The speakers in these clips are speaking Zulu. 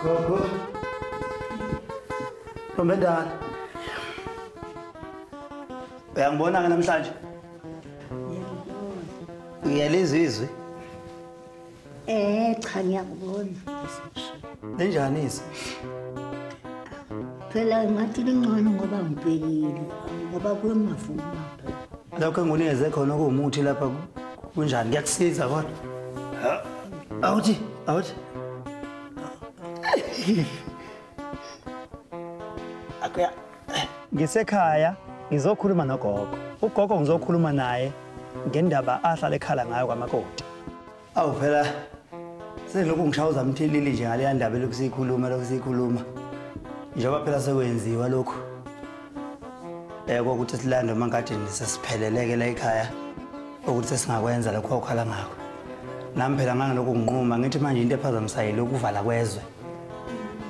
Gogo. Ntombendala. Uyangibona ke namhlanje? Ngiyalizizwe. Eh cha ngiyakubona. Ninjani isi? Phela ngathi lingcono ngoba ngibhekile ngoba kuyomavuma. Lokho engunikeze khona okuwumuthi lapha kunjani kuyakusiza kodwa. Awuthi awuthi. Akuya ngisekhaya ngizokhuluma nogogo ugogo ngizokhuluma naye ngendaba ahlala ekhala ngayo kwamakoti awu phela selokhu ngishawuza mthilili nje ngaleya ndaba elokhu siyikhuluma lokhu siyikhuluma njengoba phela sekwenziwa lokhu um kokuthi silande emankadini sesipheleleke la ekhaya ukuthi sesingakwenza lokhu okhala ngakho nami phela ngangelokhu nginquma ngithi manje into ephazamisayile ukuvala kwezwe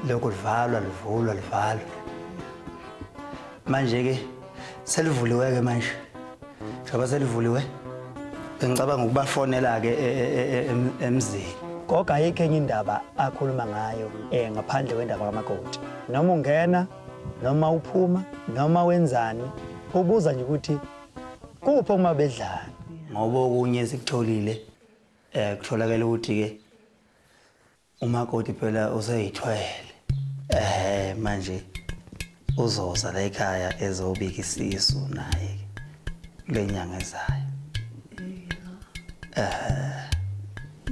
lokhu livalwa livulwa livalwa manje ke selivuliwe ke manje njengoba selivuliwe bengicabanga ukubafonela ke e, e, e, emzini goga ayikho enye indaba akhuluma ngayo um ngaphandle kwendaba kamakoti noma ungena noma uphuma noma wenzani ubuza nje ukuthi kuphi uma bedlana ngoba okunye sikutholile um kutholakele ukuthi-ke Umakoti phela useyithwele. Eh manje uzoza la ekhaya ezobika isisu naye lenyanga ezayo. Eh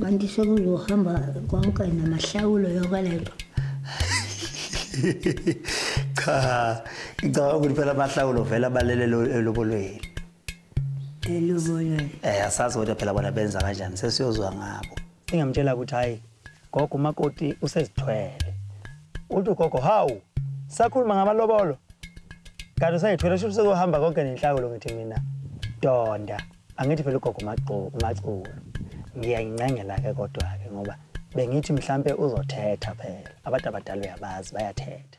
kanti sekuzohamba konke namahlawulo yokwalento. Cha ngicabanga ukuthi phela amahlawulo vela balele lobolweni. Elobolweni. Eh asazi kodwa phela bona benza kanjani sesiyozwa ngabo. Ingamtshela ukuthi hayi gogo umakoti usezithwele. Uthi gogo hawu sakhuluma ngamalobolo. Kanti usayithwele shuthi sezohamba konke nenhlako lo ngithi mina. Donda angithi phela ugogo umagqo umaculu. Ngiyayincengela ke kodwa ke ngoba bengithi mhlambe uzothetha phela. Abantu abadala uyabazi bayathetha.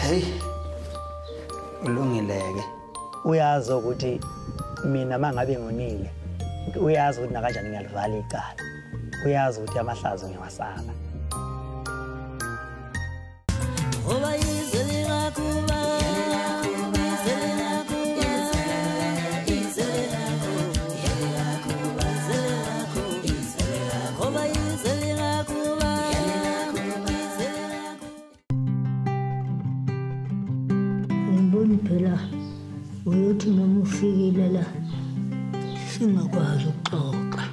Hey. Ulungileke. Uyazi ukuthi mina mangabe ngonile uyazi ukuthi nakanjani ngiyalivala icala. Uyazi ukuthi amahlazo ngiyawasala. Ngoba izwe lingakuba Ngibona phela uyothi noma ufikile la singakwazi ukuxoxa.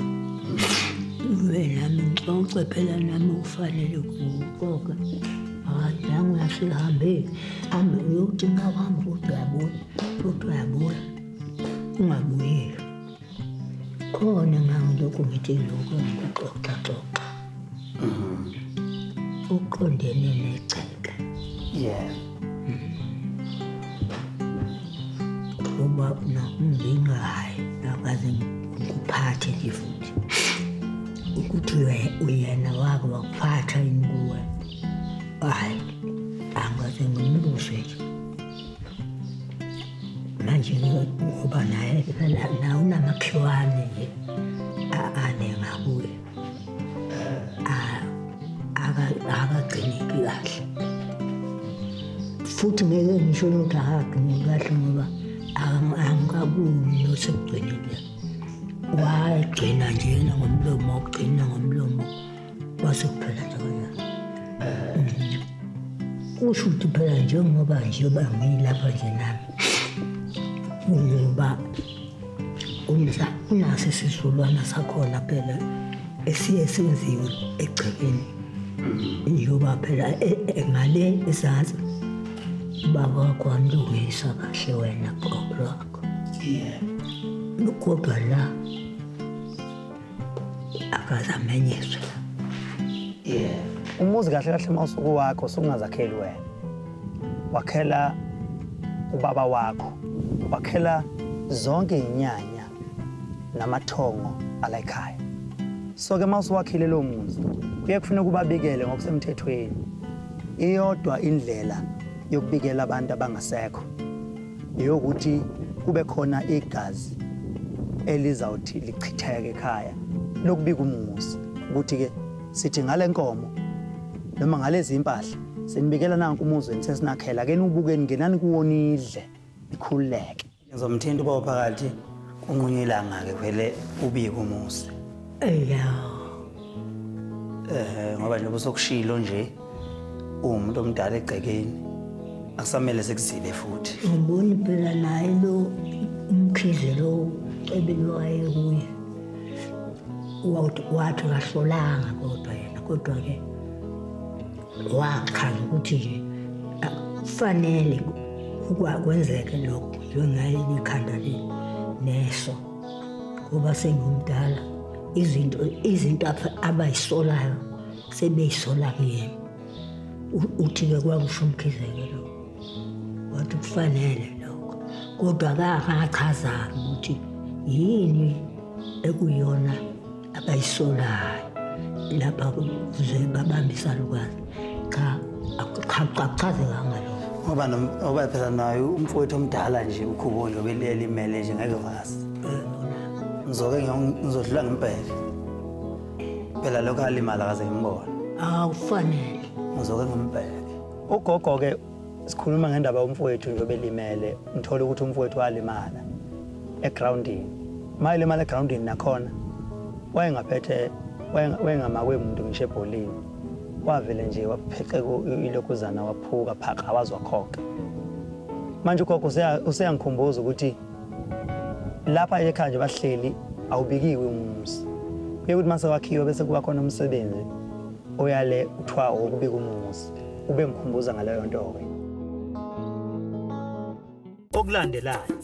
Ube nami ngixoxe phela nami ufanele ukuxoxa. Hayi nangu uyasihambe hambe uyothi uma uhamba futhi uyabona futhi uyabona ungabuyeli. khona ngangilokhu ngithi lokhu ngikuxoxaxoxa mm-hmm. uqondene negceke yeah ngoba nakumbingayo nakaze ngikuphathe nje futhi ukuthi uyena wake wakuphatha yini kuwe hhayi angaze ngimbuze nje manje ngoba naye nawe unamakhiwane nje ane ngakuye akagcineki kahle futhi ngeke ngisho ukuthi akagcineki kahle ngoba angikabuni nosekugcinile wagcina njena ngomlomo wagcina ngomlomo Bazophela nje wena. Eh. Kusho ukuthi phela njengoba nje bangilapha nje nami. Ngoba umza unaso isizukulwana sakhona phela esiye senziwe egcekeni. Mm-hmm. Njengoba phela e, e, ngale ezansi baba wakho wamlungisa kahle wena gogo lwakho. Yeah. Kodwa la akaze amenyiswe yeah umuzi kahle kahle uma usuku wakho usungazakheli wena wakhela ubaba wakho wakhela zonke inyanya namathongo ala ekhaya so ke uma usuwakhile lo muzi kuye kufuneka ubabikele ngokusemthethweni iyodwa indlela yokubikela abantu abangasekho eyokuthi kube khona igazi elizawuthi lichitheke ekhaya lokubika umuzi ukuthi-ke sithi ngale nkomo noma ngalezi impahla senibikela nanku umuzi wenu sesinakhela ke niwubukeni ngenani kuwona idle nikhululeke ngizomthinta uba phakathi kunqunywa ilanga-ke vele ubike umuzi eya um ngoba njengoba sokushilo nje uwumuntu omdala egcekeni akusamele sekuzibe futhi ngiboni phela naye lo umkhize lo cebelwaye kuye wathi kahlolanga kodwa yena kodwa-ke wachaza ukuthi nje kufanele kwenzeke lokho njengaye ikhanda neso ngoba sengimdala izinto izinto abayisolayo sebeyisola kuyena uthi-ke kwakusho umkhizeke lo wathi kufanele lokho kodwa kakachazanga ukuthi yini ekuyona abayisolayo lapha kuze babambisa lukwazi cha akuchazekanga lo ngoba ngoba phela nayo umfowethu omdala nje ukhubo nje obelimele nje ngeke vazi eh, ngizoke ngizodlula ngempela phela lokho alimala kaze ngimbona awufanele uzoke ngimbheke ugogo ke sikhuluma ngendaba yomfowethu nje obelimele ngithole ukuthi umfowethu walimala egroundini uma elimala egroundini nakhona wayengaphethe wayengamakwe muntu ngisho ebholini wavele nje wapheqeka ilokhuzana waphuka phaqa wazwakhokha manje ugogo useyangikhumbuza ukuthi lapha ekhaya nje bahleli awubikiwe umuzi kuye ukuthi mase wakhiwe bese kuba khona umsebenzi oyale kuthiwa wokubika umuzi ube ngikhumbuza ngaleyo nto-ke okulandelayo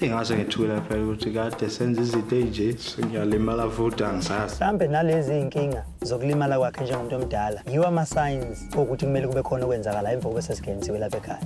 ingase ngethula phela ukuthi kade senza izinto ey'nje sengiyalimala futhi angisazi mhlawumbe nalezi iy'nkinga zokulimala kwakhe njengomuntu omdala yiwo ama-signs okuthi kumele kube khona okwenzakala emva kobe sesingenisiwe lapha ekhaya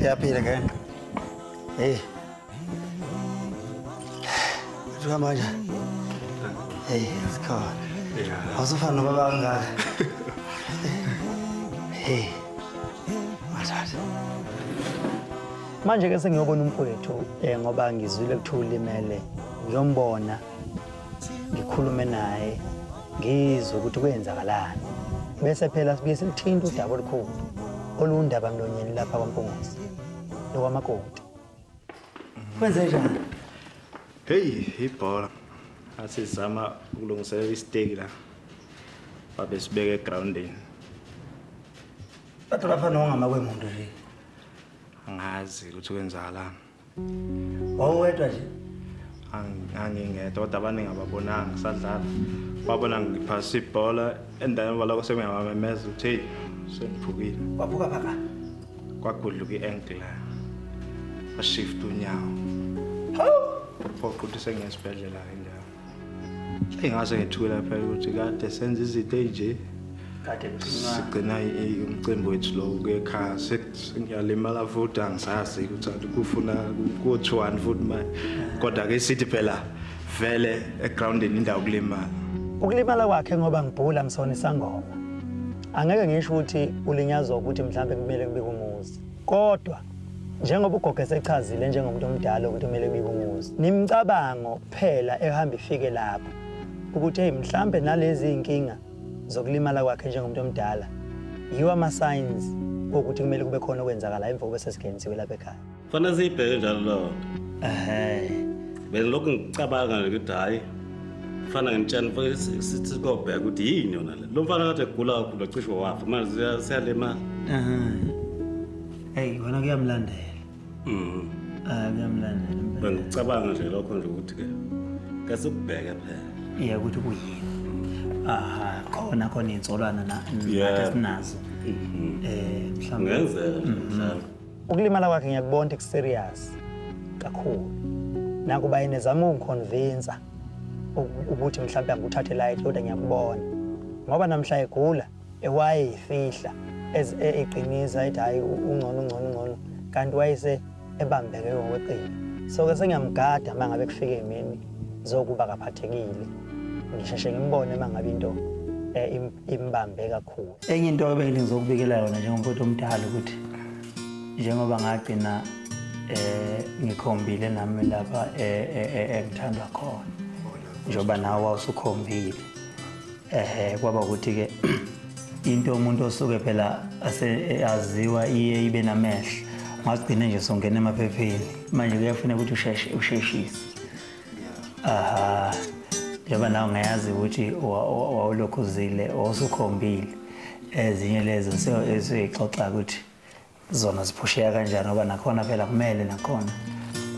Yaphila ngene. Hey. Jwa manje. Hey, sikhona. Yeah. Awusufana nobaba kangaka. Hey. Mathatha. Manje ke sengiyobona umfowethu eh ngoba ngizwile kuthiwa ulimele. Ngiyombona. ngikhulume naye ngizwe ukuthi kwenzakalani bese phela sibuye silithinta udaba olukhulu olundaba mlonyeni lapha kwaMpunguzi nokwamakoti kwenze njani heyi ibhola athi zama ukulungiselela isiteki la babe sibeke egroundini kodwa lapha nongamakwemuntu nje angazi ukuthi kwenzakalani wawuwedwa nje angingedwa kodwa abaningi ababonanga sadlala babona ngiphasa ibhola endaweni baloko sekuyamamemeza ukuthi heyi sengiphukile waphuka phaka kwagudluka i-ankle washift unyawo phoqa ukuthi sengiyesibhedlela-ke njalo Engase ngethula phela ukuthi kade senza izinto enje. Kade sigcina umcimbi wethu lo kuyekhaa sengiyalimala futhi angisazi ukuthi kufuna kuthiwani futhi manje. Kodwa ke sithi phela vele egroundini indawo kulimala. Ukulimala kwakhe ngoba ngibhula ngisona isangoma. Angeke ngisho ukuthi ulinyazwa ukuthi mhlambe kumele kube kumuzi. Kodwa njengoba ugogo esechazile njengomuntu omdala ukuthi kumele kubike umuzi nimcabango kuphela ehamba ifike lapho ukuthi hey mhlambe nalezi inkinga zokulimala kwakhe njengomuntu omdala yiwa ama signs ukuthi kumele kube khona okwenzakala emva kube sesigenziwe lapha ekhaya fanele siyibheke njalo lokho ehe bese lokhu ngicabanga ukuthi hayi fana ngimtshana futhi sithi kobheka ukuthi yini yona le lo mfana kade egula kakhulu cishe wafa manje siyalimala ehe Hey wena kuyamlandela. Mhm. Ah kuyamlandela. Bengicabanga nje lokho nje ukuthi ke kase ubheke phela. Yeah ukuthi kuyini. Aha khona khona insolwana na sinazo. Mhm. Eh mhlawumbe ngenzeka nje mhm. mhlawumbe. Ukulimala kwakhe ngiyakubona ukuthi serious kakhulu. Nakuba yena ezama ukungiconvince ukuthi mhlawumbe angikuthathe light kodwa ngiyakubona. Ngoba namhla egula ewayeyifihla eqiniza ethi hhayi ungcono ungcono ungcono kanti wayese ebambeke ngokweqile so-ke sengiyamgada uma ngabe kufike emini zokuba kaphathekile ngisheshe ngimbone uma ngabe into eh, imbambe kakhulu enye into ebengile ngizokubikela yona njengomfowethu omdala ukuthi njengoba ngagcina eh ngikhombile nami lapha eh, eh, eh, engithandwa khona njengoba nawe wawusukhombile ehe kwaba ukuthi ke into umuntu osuke phela aseyaziwa iye ibe namehlo ngagcine nje songena emaphepheni manje kuyafuneka ukuthi usheshe usheshise aha njengoba nawe ngayazi ukuthi wawulokhu uzile wawusukhombile ezinye lezo esuyixoxa ukuthi zona ziphusheka kanjani ngoba nakhona phela kumele nakhona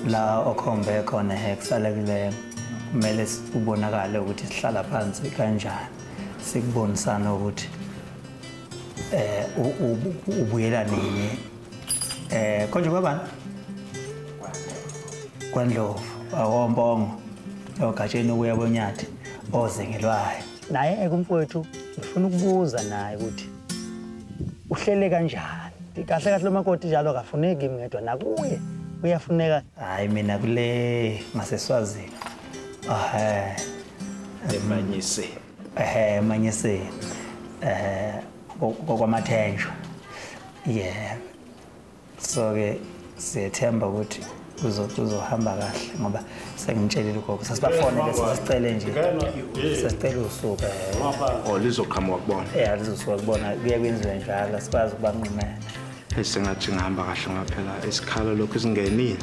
la okhombe khona hexalekileyo kumele ubonakale ukuthi sihlala phansi kanjani sikubonisana ukuthi eh ubuyela nini eh konje kwabani kwandlovu awombongo ogatsheni ukuya konyathi ozengelwayo naye eke umfowethu ngifuna ukubuza naye ukuthi uhlele kanjani kahle kahle lomakoti njalo akafuneki kimi ngedwa nakuye uyafuneka hayi mina kule ngaseswazini ehe emanyiseni ehe emanyiseni ehe kokwamathenjwa yeah so ke siyethemba ukuthi kuzohamba kahle ngoba sengimtshelile ugogo sasibafone ke sasicele nje sasicele usuka eh. o oh, lizoqhamuka kubona ya lizosuka kubona kuye kwenziwe njalo sikwazi ukubanqumela esingathi ngihamba kahle ngaphela isikhala lokhu singenile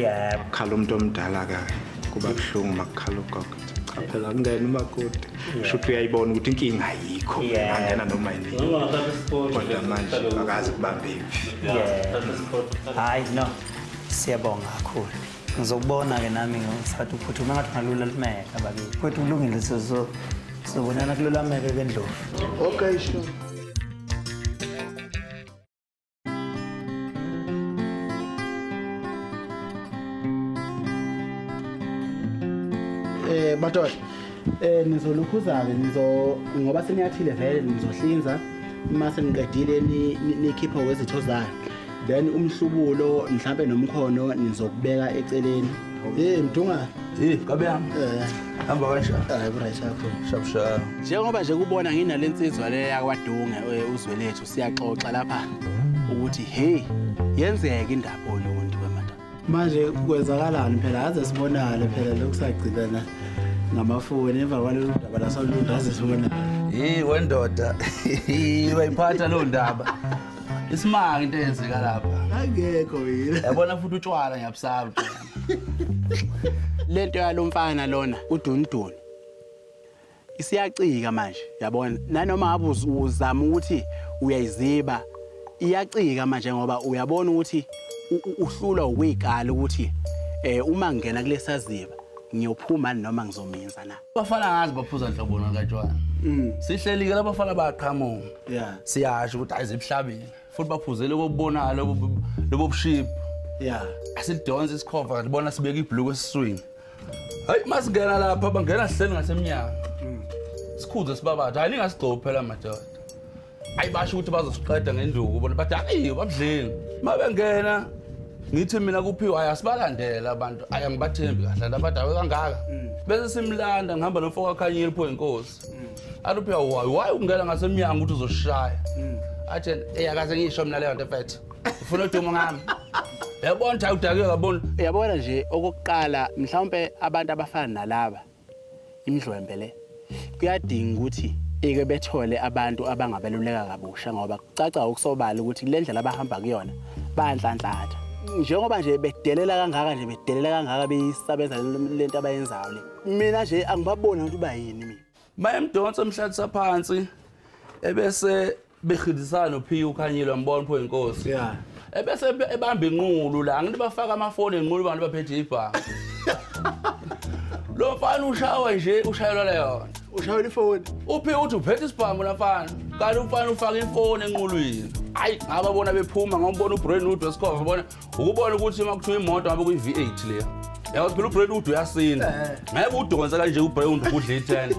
ya kukhala umuntu omdala-ke kuba buhlungu uma kukhala ugogo phela kungena umakoti sho ukuthi uyayibona ukuthi inkinga ayikho angena noma yinikodwa manje akazi kubambe iphi hayi no siyabonga kakhulu ngizokubona-ke nami ngisathi uphuthume ngathi ungalula lumeka bakithi futhi ulungile sizobonana kululameke kendlovu okay sure Eh batola eh nizolukhuza-ke nizo ngoba seniyathile vele nizohlinza uma seniqedile nikhiphe wezitho zayo then umhlubulo mhlampe nomkhono nizokubeka eceleni hey mdunga hey kabe yami eh. hamba kanjani hayi right yakho shabshaba njengoba nje kubona nginale nsizwa le yakwadunge eh, uzwelethu siyaxoxa lapha ukuthi hey yenzeke indaba oluntu wemadoda manje kwenzakalani phela aze sibonale phela lokusagcibana ngamafoni emva kwalolu daba lasoluntu aze sibonale hey wendoda wayiphatha lo ndaba isimanga into eyenzeka lapha angekho yini yabona futhi utshwala ngiyabusaba lento yalomfana lona udunudunu isiyacika manje yabona nanoma ngabe uzama ukuthi uyayiziba iyacika manje ngoba uyabona ukuthi uhlulwa ukuyikala ukuthi eh uma ngena kulesaziba ngiyophuma noma ngizomenza na bafana ngazi baphuza nhlobo nakatshwana mm. sihleli ke labafana bayaqhamuka yeah siyasho ukuthi ayizibuhlabile futhi baphuzele kokubonala lobo lobo buship yeah asidonse isikhova libona sibeka ibhlukwe esiswini hayi masingena lapha bangena sihleli ngasemnyango mm. sikhuze sibabatha hayi ningasigcobi phela madoda hayi basho ukuthi bazosiqeda ngenduku bona bathi hayi babudleni uma bengena ngithi mina kuphiwa hayi asibalandele abantu hayi angibathembi kahle abantu abadawe kangaka mm. bese simlanda ngihamba nomfo kwakhanyile pho inkosi mm. aluphe why why ungena ngasemnyango ukuthi uzoshaya mm. athi eyakaze ngisho mina leyo nto mfethu ufuna udumo ngami yabona cha udake yabona yabona nje okokuqala mhlawumbe abantu abafana nalaba imidlwembe le kuyadinga ukuthi ike bethole abantu abangabeluleka kabusha ngoba kucaca ukusobala ukuthi kule ndlela abahamba kuyona bayanhlanhlatha njengoba nje bedelela kangaka nje bedelela kangaka beyisabeza lento abayenzayo le mina nje angibaboni ukuthi uba yini mina mayemdonsa emhlalisa phansi ebese behidisana nophiya ukhanyile wambona pho inkosi yeah ebese ebamba inqulu la ngithi bafaka amafoni enqulu abantu baphethe ibhanga lo mfana ushawa nje ushayelwa leyona ushayela ifoni uphi uthi uphethe isibhamu la mfana kanti umfana ufaka ifoni enqulwini hayi ngababona bephuma ngombona ubrain wood wesikhova bona ukubona ukuthi uma kuthiwa imoto ngabe kuyi-v8 leya yabo phela ubrand ude uyasinda eh. ngeke udonse kanje ubrand udla i-ten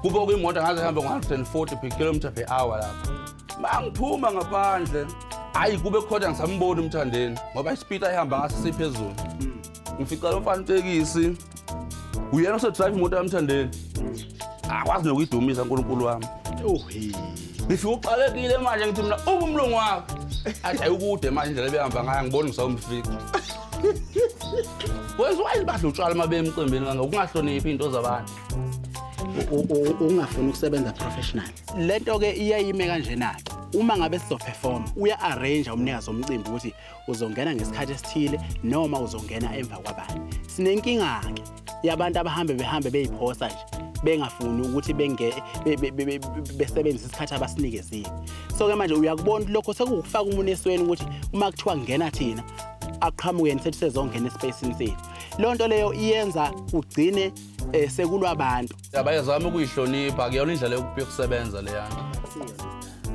kube kuyimoto ngaze hambe ngo-hundred and forty per kilometer per hour lapho ma ngiphuma ngaphandle hhayi kube khona ngisamboni umthandeni ngoba isipiti ayihamba ngaso siphezulu ngifica lo mfana itekisi uyena osedrive imoto yamthandeni akwazi nokuyidumisa nkulunkulu wami ngifike uqalekile manje ngithi mina uba umlungu wakho athi ayikude manje indlela ebehamba ngayo angiboni ngisawumfika wenza wayini badla utshwala uma bemcimbini kanga ukungahloniphi iy'nto zabantu ungafuni ukusebenza professional le nto-ke iyayime kanjena-ke uma ngabe sizoperforma uya-arrange umnikazi omcimbi ukuthi uzongena ngesikhathi esithile noma uzongena emva kwabanye sinenkinga-ke yabantu abahambe behambe beyiphosa nje bengafuni ukuthi besebenzise isikhathi abasinikezile so-ke manje uyakubona ukuthi lokho sekukufaka umuntu esweni ukuthi uma kuthiwa kungena thina aqhamukeni sethi sezongena espacini sethu loo nto leyo iyenza kugcine um sekulwa abantu abayezama ukuyihlonipha kuyona indlela yokusebenza leyana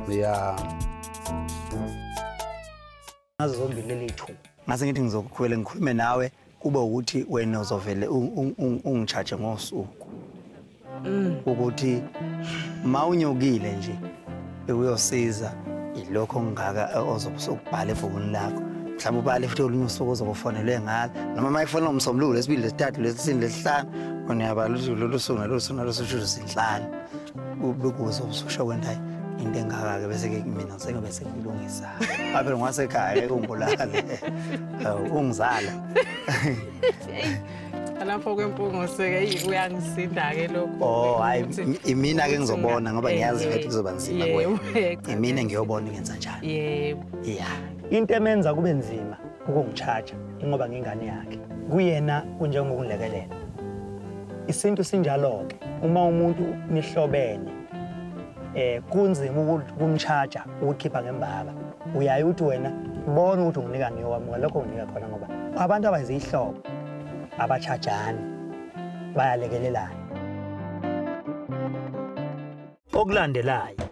ya yeah. ngazo zombili leli thuba ngase ngithi ngizokukhwela ngikhulume nawe kube ukuthi wena uzovele ungichaje ngosuku mm. ukuthi ma unyokile nje uyosiza ilokho ngaka ozokubhala ebhukwini lakho mhlawumbe ubale futhi olunye usuku ozokufonelwe ngalo noma uma ifonela umsombuluko lesibili lesithathu lesisini lesihlanu uniyabala ukuthi lolu suku nalolu suku nalolu suku luzinhlanu bekuze ubususha kwendayo into engaka-ke bese-ke mina sengabe sengilungisa abe ngwasekhaya ungibulale ungizala lapho kwempungoseke uyangisinda-ke lokho oh hayi imina ke ngizobona ngoba eh, ngiyazi ukuthi kuzoba nzima kuwena imina ngiyobona ingenza njani yebo ya into emenza kube nzima ukungichaja ingoba ngingane yakhe kuyena kunjengokungilekelela isintu sinjalo-ke uma umuntu nihlobene eh kunzima ukumchaja ukhipha ngembaba uyaye uthi wena bona ukuthi unginika ngiyowamuka lokho unginika khona ngoba abantu abenza ihlobo abachajani bayalekelelana okulandelayo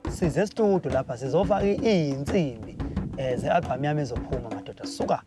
size studio lapha sizofaka iyinsimbi um eh, ze-albhamu yami ezophuma madoda suka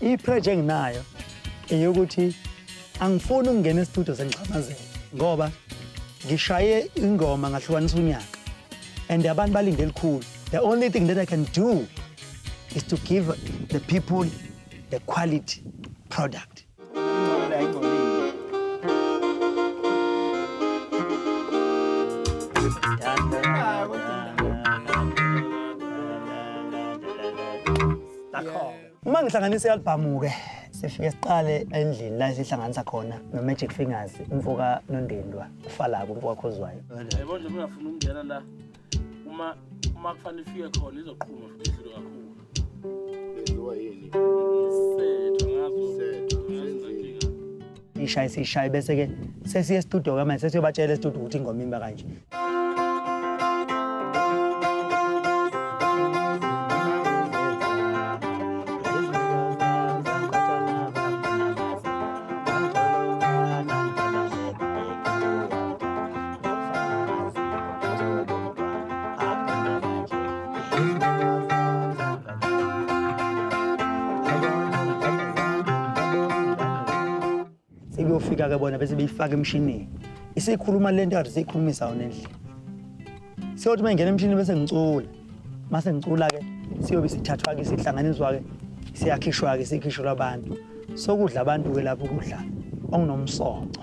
ipreje enginayo eyokuthi angifuni ukungena estudio sengixhamazela ngoba ngishaye ingoma ngahlukanisa unyaka and abantu balinde elikhulu The only thing that I can do is to give the people the quality product. uma ngihlanganisa i-albhamu-ke sifike siqale endlini la sihlanganisa khona no-magic fingers umfoka nondindwa ufalako umfoka khozwayo uma uma kufanele ifike khona izoqhuma futhi idlule kakhulu lenziwa yini setho ngazo setho ishaye sishaye bese ke sesiye estudio ke manje sesiyobatshela estudio ukuthi ingoma imba kanje sebeyofika ke bona bese beyifaka emshinini isikhuluma le nto kade siyikhulumisa yona endlini siyothi uma ingena emshinini bese ngicula uma sengicula-ke siyobe sithathwa-ke sihlanganiswa-ke siyakhishwa-ke sikhishelwa abantu sokudla abantu-ke lapho ukudla okunomsoco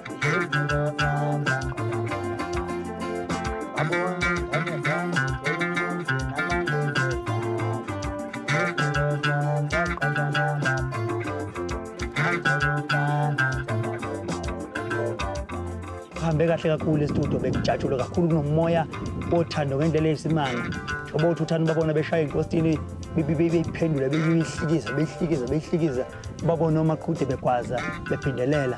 kuhambe kahle kakhulu estudio bekujatshulwe kakhulu kunomoya othando ngendlela eyisimanga oba uthi uthanda ubabona beshaya inkostini beyiphendula beyihlikiza beyihlikiza beyihlikiza ubabona omaqhude begwaza bephindelela